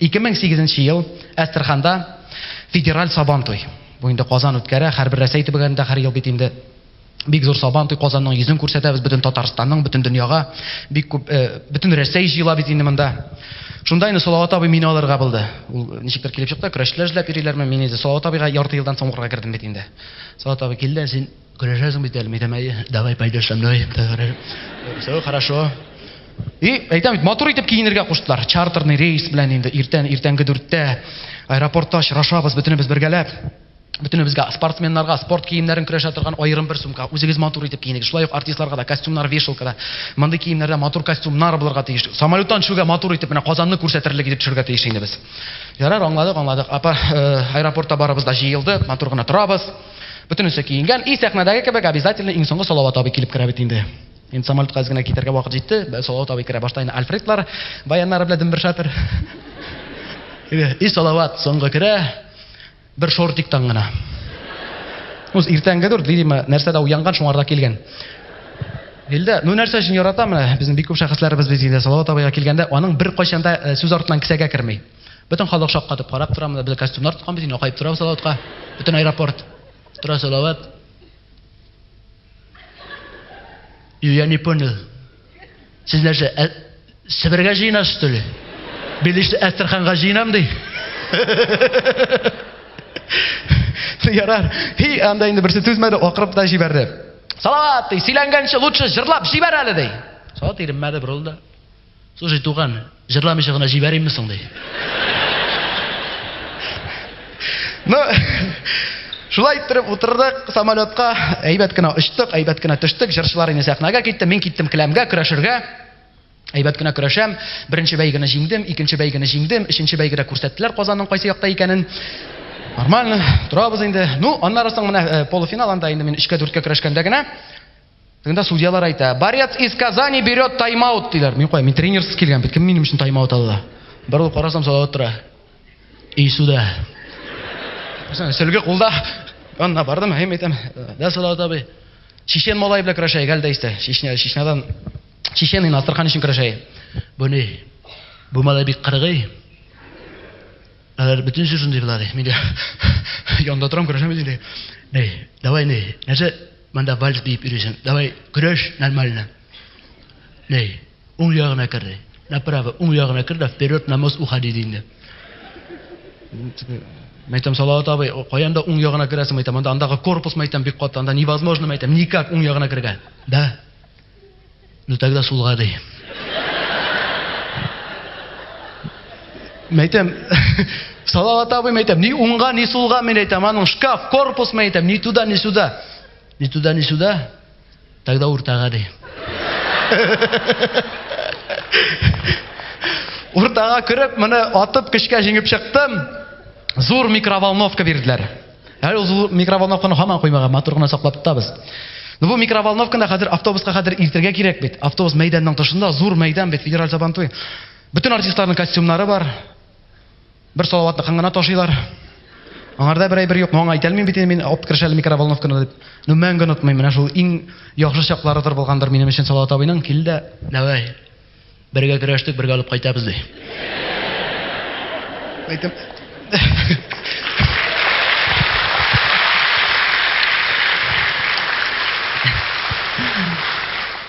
2008 ел Әстерханда федераль Сабан туй. Бу инде Казан үткәрә, һәрбер Рәсәй төбәгендә һәр ел бит инде бик зур Сабан туй, Казанның йөзен күрсәтәбез бөтен Татарстанның, бөтен дөньяга. Бик күп, э, бөтен Рәсәй җыела бит инде монда. Шунда инде Салават абый мине алырга булды. Ул ничектер килеп чыкты, көрәшчеләр эзләп йөриләрме, мин инде Салават абыйга ярты елдан соң укырга кердем бит инде. Салават абый килде, син Көрәшәсең бит әле, мәйтәм, әйе, давай, пойдешь со мной. Все хорошо. И, әйтәм бит, матур итеп киенергә куштылар. Чартерный рейс белән инде иртән, иртәнге дүрттә аэропортта очрашабыз бөтенебез бергәләп. Бөтенебезгә спортсменнарга спорт киемнәрен көрәшә торган аерым бер сумка. Үзегез матур итеп киенегез. Шулай ук артистларга да костюмнар, вешалкада. Мондый киемнәрдә матур костюмнар булырга тиеш. Самолеттан төшүгә матур итеп менә Казанны күрсәтерлек итеп төшәргә тиеш инде без. Ярар, аңладык, аңладык. Апа, э, аэропортта барыбыз да җыелды, матур гына торабыз. Бөтенесе киенгән. И сәхнәдәге кебек обязательно иң соңгы Салават абый килеп керә бит инде. Инде самолетка әз генә китәргә вакыт җитте. Салават абый керә. Башта инде Альфредлар баяннары белән дөмбер шатыр. И Салават соңгы керә. Бер шортиктан гына. Үз иртәнге дүрт, видимо, нәрсәдә уянган, шуңарда килгән. Илдә, ну нәрсә өчен яратам, безнең бик күп шәхесләребез без инде Салават абыйга килгәндә, аның бер кайчанда сүз артыннан кесәгә керми. Бөтен халык шаккатып карап тора, монда без костюмнар тоткан бит, акаеп тора салаватка. Бөтен аэропорт тора салават. Я не понял. Сез нәрсә, ә, Себергә җыена что ли? Билешле Әстерханга җыенам ди. Ярар. Хи, анда инде берсе түзмәде, акырып та җибәрде. Салават, ди, сөйләнгәнче лучше җырлап җибәр әле, ди. Салават иренмәде, борылды. Слушай, туган, җырламыйча гына җибәримме соң, ди. Ну, шулай иттереп утырдык самолетка, әйбәт кенә очтык, әйбәт кенә төштек, җырчылар инде сәхнәгә китте, мин киттем келәмгә, көрәшергә. Әйбәт кенә көрәшәм, беренче бәйгене җиңдем, икенче бәйгене җиңдем, өченче бәйгедә күрсәттеләр Казанның кайсы якта икәнен. Нормально, торабыз инде. Ну, аннары соң менә э, полуфинал, анда инде мин өчкә-дүрткә көрәшкәндә генә, Тегендә судьялар әйтә, борец из Казани берет тайм-аут, диләр. Мин кая, мин тренерсыз килгән бит, кем минем өчен тайм-аут алды? Борылып карасам, Салават тора. И суда. Сөлге кулда. Янына бардым, әйм әйтәм, да, Салават абый, чечен малай белән көрәшәйек әле дә истә. Чечня, Чечнядан, чечен инде, Астрахань өчен көрәшәйек. Бу ни? Бу малай бик кыргый. Алар бөтен җыр шундый була, ди. Мин дә янында торам, көрәшәм бит инде. Әй, давай, ни, нәрсә монда вальс биеп йөрисең? Давай, көрәш нормально. Ни, уң ягына кер, ди. Направо, уң ягына кер дә вперед на мост уходи, ди инде. Мәйтәм Салават абый, каянда уң ягына керәсең, мәйтәм, анда андагы корпус мәйтәм бик каты, анда невозможно мәйтәм, никак уң ягына керергә. Да. Ну тогда сулгады. Мен әйтәм, Салават абый, мен әйтәм, ни уңга, ни сулга, мен әйтәм, аның шкаф, корпус, мен әйтәм, ни туда, ни сюда. Ни туда, ни сюда, тогда уртага ди. Уртага кереп, моны атып, көчкә җиңеп чыктым. Зур микроволновка бирделәр. Әле ул микроволновканы һаман куймаган, матур гына саклап тотабыз. Ну бу микроволновканы хәзер автобуска хәзер илтергә кирәк бит. Автобус мәйданның тышында зур мәйдан бит, федераль Сабантуй. Бөтен артистларның костюмнары бар. Бер салаватны кыңгына ташыйлар. Аңарда бер әйбер юк, моңа әйтә алмыйм бит мин алып керешәле микроволновканы дип. Ну мәңге онытмыйм, менә шул иң яхшы чакларыдыр булгандыр минем өчен Салават абыйның килде. Давай. Бергә көрәштек, бергә алып кайтабыз, ди. Әйтәм.